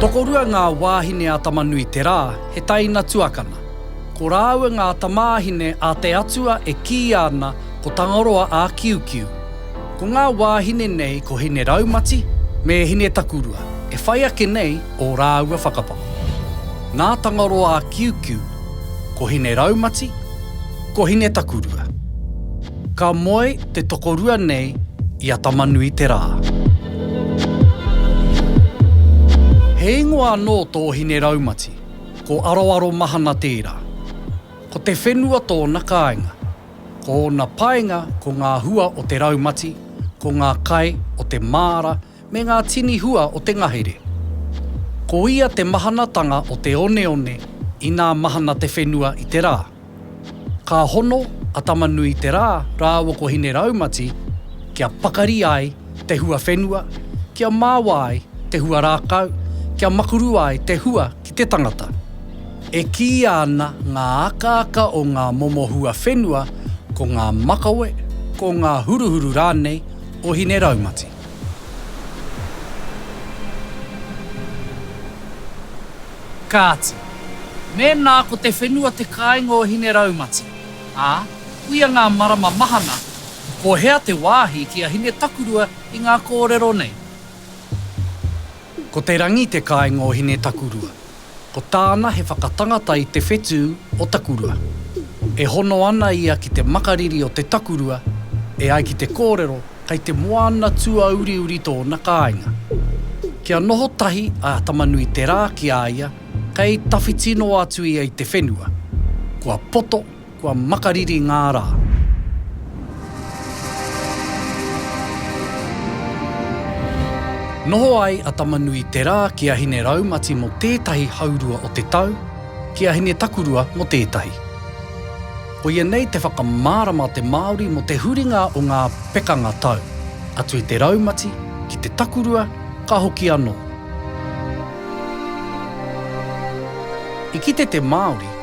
Tokorua ngā wāhine a Tama-nui-te-rā, he taina tuakana. Ko rāua ngā tamāhine a te Atua e kīia ana, Ko Tangaroa a Kiukiu. Ko ngā wāhine nei ko Hineraumati me Hinetakurua e whai ake nei ō rāua whakapapa. Nā Tangaroa a Kiukiu ko Hineraumati, ko Hinetakurua. Ka moe te tokorua nei i a Tamanuiterā. He ingoa anō tō Hineraumati, ko Aroaro Mahana tērā. Ko te whenua tōna kāinga. Ko ōna painga ko ngā hua o te raumati, ko ngā kai o te māra me ngā tini hua o te ngahere. Ko ia te mahanatanga o te oneone inā mahana te whenua i te rā. Ka hono a Tama-nui-te-rā rāua ko Hine-raumati kia pakari ai te hua whenua, kia mawa ai te hua rākau, kia makurua ai te hua Ki te tangata, e kīia ana ngā akaaka o ngā momo huawhenua ko ngā makawe, ko ngā huruhuru rānei o Hineraumati. Kāti, mēnā ko te whenua te kāinga o Hineraumati, ā, kuia ngā marama mahana, ko hea te wāhi ki a Hinetakurua i ngā kōrero nei? Ko Te Rangi te kāinga o Hinetakurua. Ko tāna he whakatangata i te whetū o Takurua. E hono ana ia ki te makariri o te takurua, e ai ki te kōrero kei te moana tuauriuri tōna kāinga. Kia noho tahi a Tamanuiterā ki a ia kei tawhiti noa atu ia i te whenua, kua poto Kua makariri ngā rā. Noho ai a Tamanui Terā ki a Hine Raumati mō tētahi haurua o te tau, ki a Hine Takurua mō tētahi. Koia nei te whakamārama a te Māori mō te huringa o ngā pekanga tau, atu i te raumati, ki te takurua, ka hoki anō. I kite te Māori.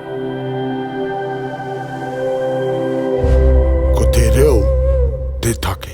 Ko te reo te take.